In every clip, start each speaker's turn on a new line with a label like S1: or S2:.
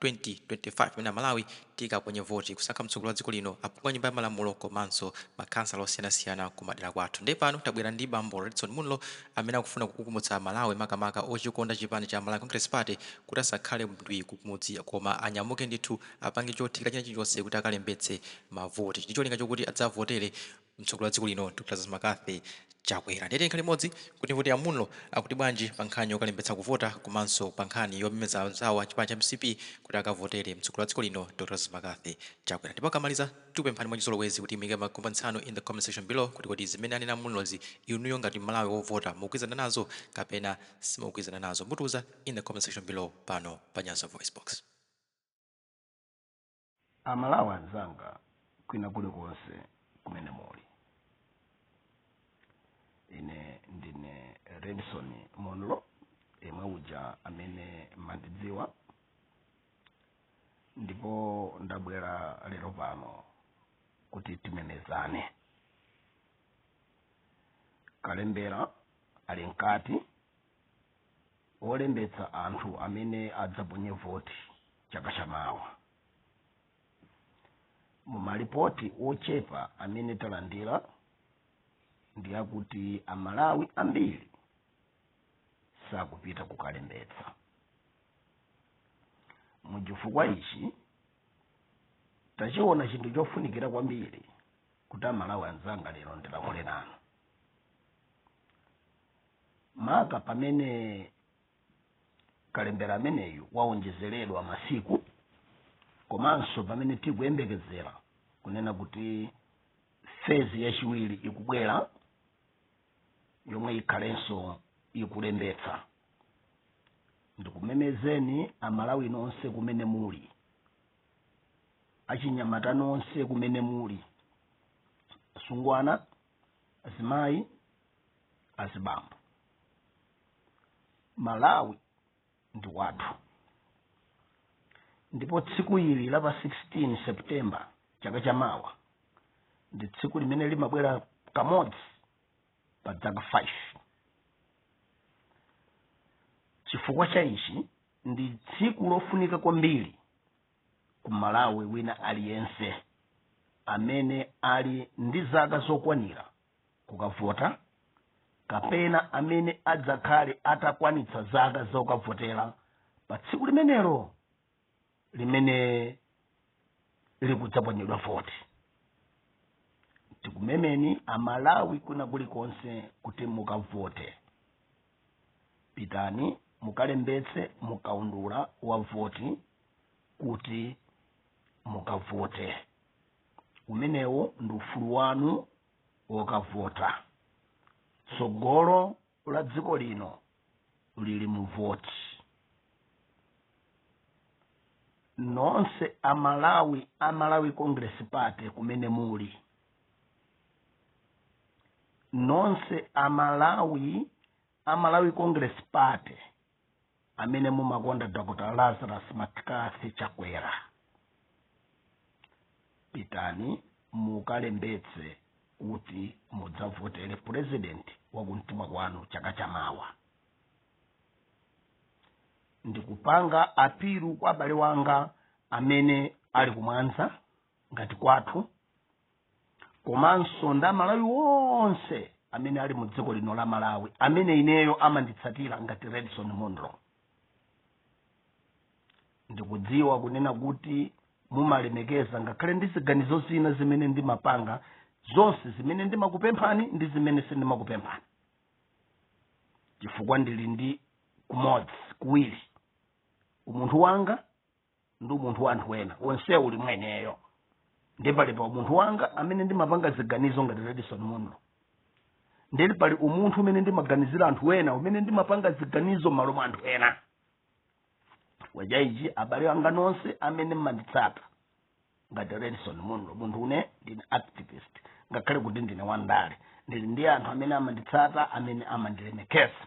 S1: 2025 pamene Amalawi tikaponye voti kusankha mtsogoleri wa dziko lino, aphungu a Nyumba ya Malamulo komanso makhansala osiyanasiyana kumadera kwathu. Ndiye pano tabwera ndi bambo Redson Munlo amene akufuna kukukumutsa Amalawi makamaka ochikonda chipani cha Malawi Congress Party kuti asakhale ndwii kumudzi koma anyamuke ndithu apange chothekera china chilichonse kuti akalembetse mavoti ndicholinga chokuti adzavotere mtsogoleri wa dziko lino Dr Lazarus Mccarthy Chakwera. Ndiye tikhale limodzi kuti timve kuti a Munlo akuti bwanji pa nkhani yokalembetsa kuvota komanso pa nkhani yomemeza anzawo a chipani cha mcp kuti akavotere mtsogoleri wa dziko lino Dr Lazarus Mccarthy Chakwera. Ndipo akamaliza tikupemphani mwachizolowezi kuti muike ma comments anu in the comment section below kuti kodi zimene anena a Munlozi inuyo ngati m'Malawi wovota mukugwirizana nazo kapena simukugwirizana nazo? Mutiuza in the comment section below pano pa Nyasa Voicebox.
S2: amalawi anzanga kwina kulikonse kumene muli ine ndine redson munlo yemwe uja amene mandidziwa ndipo ndabwera lero pano kuti timemezane kalembera ali mkati olembetsa anthu amene adzaponye voti chaka chamawa mumalipoti ochepa amene talandira ndi akuti amalawi ambiri sakupita kukalembetsa muchifukwa ichi tachiona chinthu chofunikira kwambiri kuti amalawi anzanga lero ndilankhule nanu maka pamene kalembera ameneyu waonjezeredwa masiku komanso pamene tikuyembekezera kunena kuti fezi yachiwiri ikubwera yomwe ikhalenso ikulembetsa ndikumemezeni amalawi nonse kumene muli achinyamata nonse kumene muli asungwana azimayi azibambo malawi ndi wathu ndipo tsiku ili la pa 16 september chaka cha mawa ndi tsiku limene limabwera kamodzi pa dzaka 5 chifukwa cha ichi ndi tsiku lofunika kwambiri ku mmalawi wina aliyense amene ali ndi zaka zokwanira kukavota kapena amene adzakhale atakwanitsa zaka zokavotera pa tsiku limenelo limene likudzaponyedwa voti tikumemeni amalawi kwina kulikonse kuti mukavote pitani mukalembetse mukaundula wa voti kuti mukavote umenewo ndi ufulu wanu wokavota tsogolo la dziko lino lili mu voti nonse amalawi amalawi congress party kumene muli nonse amalawi amalawi congress party amene mumakonda dr lazarus mccarthy chakwera pitani mukalembetse kuti mudzavotere purezidenti wakumtima kwanu chaka chamawa ndikupanga apilu kwa abale wanga amene ali kumwanza ngati kwathu komanso ndi amalawi onse amene ali mu dziko lino la malawi amene ineyo amanditsatira ngati redson munlo ndikudziwa kunena kuti mumalemekeza ngakhale ndi ziganizo zina zimene ndimapanga zonse zimene ndimakupemphani ndi zimene sindimakupemphani chifukwa ndili ndi kumodzi kuwiri umunthu wanga ndi umunthu wa anthu ena onse uli mwa ineyo ndi pali pa umunthu wanga amene ndimapanga ziganizo ngati redson munlo ndili pali umunthu umene ndimaganizira anthu ena umene ndimapanga ziganizo m'malo mwa anthu ena waja ichi abale anga nonse amene mmanditsata ngati redson munlo munthu une ndine activist ngakhale kuti ndine wandale ndili ndi anthu amene amanditsata amene amandilemekeza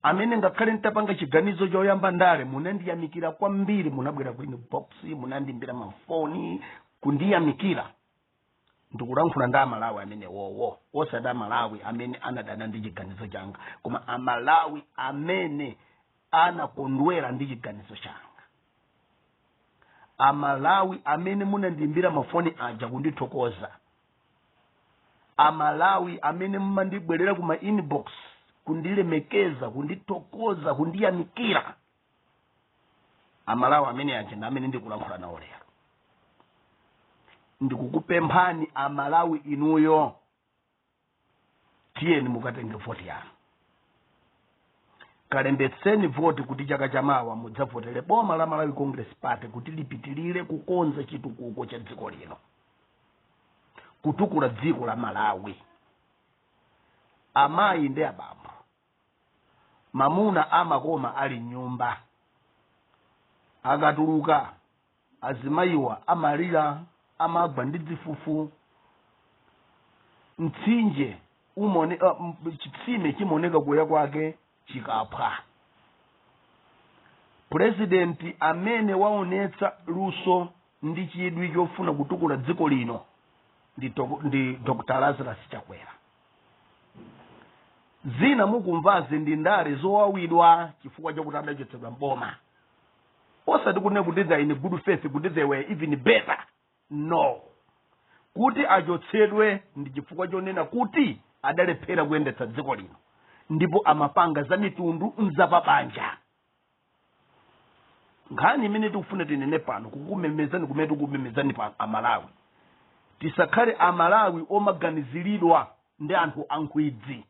S2: amene ngakhale nditapanga chiganizo choyamba ndale munandiyamikira kwambiri munabwera ku inbox munandimbira mafoni kundiyamikira ndikulankhula ndi amalawi amenewowo osati amalawi amene anadana ndi chiganizo changa koma amalawi amene anakondwera ndi chiganizo changa amalawi amene munandimbira mafoni aja kundithokoza amalawi amene mumandibwerera ku ma inbox kundilemekeza kundithokoza kundiyamikira amalawi ameneaja ndi amene ndikulankhula nawo lero ndikukupemphani amalawi inuyo tiyeni mukatenge voti yanu kalembetseni voti kuti chaka chamawa mudzavotere boma la malawi congress party kuti lipitirire kukonza chitukuko cha dziko lino kutukula dziko la malawi amayi ndi abambo mamuna amakoma ali mnyumba akatuluka azimayiwa amalira amagwa ndi dzifufu mtsinje umone chitsime chimaoneka kuya kwake chikaphwa purezidenti amene waonetsa luso ndi chidwi chofuna kutukula dziko lino ndi dr lazarus chakwera zina mukumvazi ndi ndale zowawidwa chifukwa chakuti adachotsedwa mboma osati kunena kuti they are in good faith kuti they were even better no kuti achotsedwe ndi chifukwa chonena kuti adalephera kuyendetsa dziko lino ndipo amapanga za mitundu nzapabanja nkhani imene tikufuna tinene pano kukumemezani kumene tikumemezani pano amalawi tisakhale amalawi omaganiziridwa ndi anthu ankhwidzi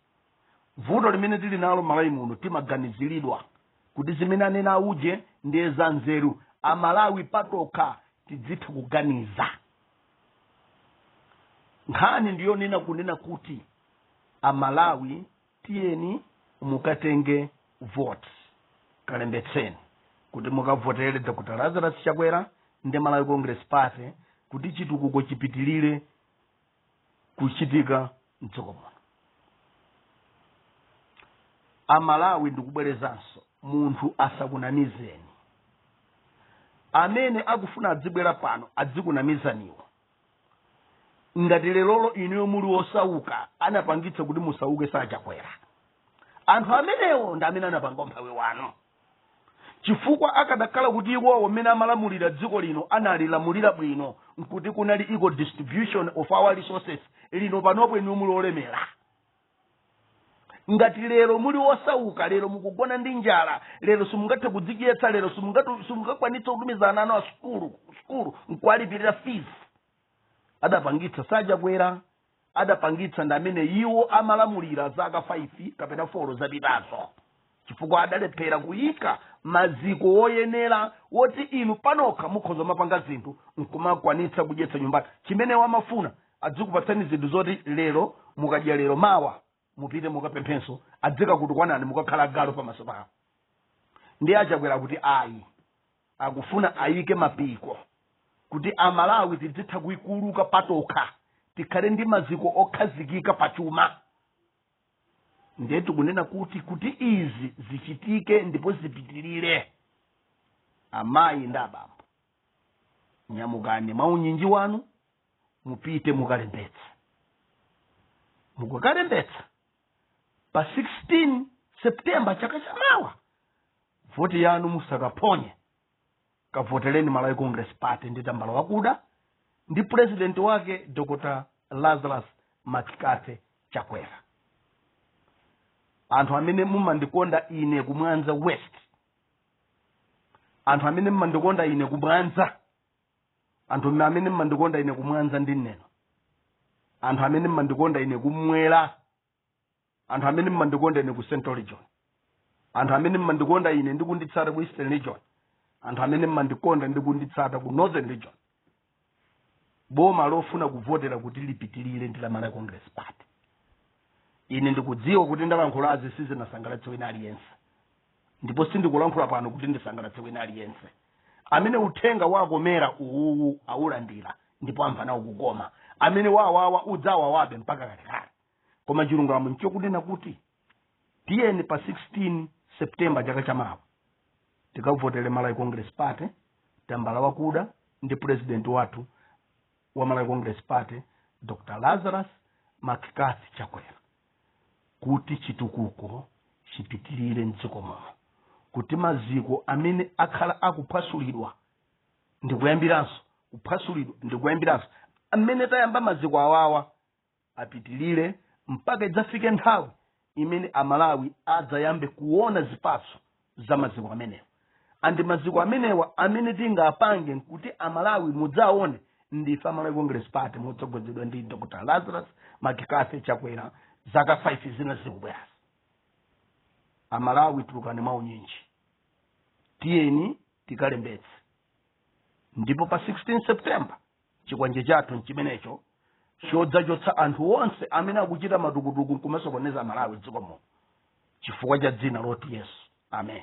S2: vuto limene tili nalo malawi muno timaganiziridwa kuti zimene anena auje ndiye za nzeru amalawi patokha tidzitha kuganiza nkhani ndiyonena kunena kuti amalawi tiyeni mukatenge vote kalembetseni kuti mukavotere dr lazarus chakwera ndi malawi congress party kuti chitukuko chipitilire kuchitika mdziko muno amalawi ndikubwerezanso munthu asakunamizeni amene akufuna adzibwera pano adzikunamizaniwo ngati lerolo inuyo muli wosauka anapangitsa kuti musauke si achakwera anthu amenewo ndi amene anapanga umphawi wanu chifukwa akadakhala kuti iwowo mmene amalamulira dziko lino analilamulira bwino nkuti kunali equal distribution of our resources lino panopo inuyo muli olemera ngati lero muli osauka lero mukugona ndi njala lero simungathe kudzidyetsa lero simungakwanitse kutumiza ana anu a sukulu sukulu nkuwalipirira fees adapangitsa si achakwera adapangitsa ndi amene iwo amalamulira zaka 5 kapena 4 zapitazo chifukwa adalephera kuyika maziko woyenera woti inu panokha mukhoza mapanga zinthu nkumakwanitsa kudyetsa nyumba chimene amafuna adzikupatsani zinthu zoti lero mukadya lero mawa mupite mukapemphenso adzikakutukwanani mukakhala galu pamaso pawo ndiye achakwera kuti ayi akufuna ayike mapiko kuti amalawi tidzitha kuikuluka patokha tikhale ndi maziko okhazikika pachuma ndiye tikunena kuti kuti izi zichitike ndipo zipitirire amayi ndi abambo nyamukani mwa unyinji wanu mupite mukalembetse mukakalembetsa pa 16 septemba chaka chamawa voti yanu musakaphonye kavotereni malawi congress party ndi tambala wakuda ndi president wake dr lazarus mccarthy chakwera anthu amene mumandikonda ine kumwanza west anthu amene mumandikonda ine kumwanza anthu amene mumandikonda ine kumwanza ndi neno anthu amene mumandikonda ine kumwera anthu amene mmandikonda ine ku central region anthu amene mmandikonda ine ndi kunditsata ku eastern region anthu amene mmandikonda ndi kunditsata ku northern region boma lofuna kuvotera kuti lipitirire ndi la malawi congress party ine ndikudziwa kuti ndalankhulazi sizinasangalatse wina aliyense ndipo sindikulankhula pano kuti ndisangalatse wina aliyense amene uthenga wakomera uwuwu awulandira ndipo amva nawo kukoma amene wawawa udzawawabe mpaka kalekale koma chilungamo nchokunena kuti tiyeni pa 16 septemba chaka chamawa tikavotere malawi congress party tambala wakuda ndi president wathu wa malawi congress party dr lazarus mccarthy chakwera kuti chitukuko chipitirire mdziko muno kuti maziko amene akhala akuphwasulidwa ndikuyambiranso kuphwasulidwa ndikuyambiranso amene tayamba maziko awawa apitilire mpaka idzafike nthawi imene amalawi adzayambe kuona zipatso za maziko amenewa andi maziko amenewa amene tingapange nkuti amalawi mudzaone ndife amalawi congress party motsogozedwa ndi dr lazarus mccarthy chakwera zaka 5 zina zikubwerazi amalawi tulukani mwa unyinji tiyeni tikalembetse ndipo pa 16 september chikwanje chathu nchimenecho chodzachotsa anthu onse amene akuchita matukutuku nkumasokoneza malawi mdziko muno chifukwa cha dzina loti yesu amen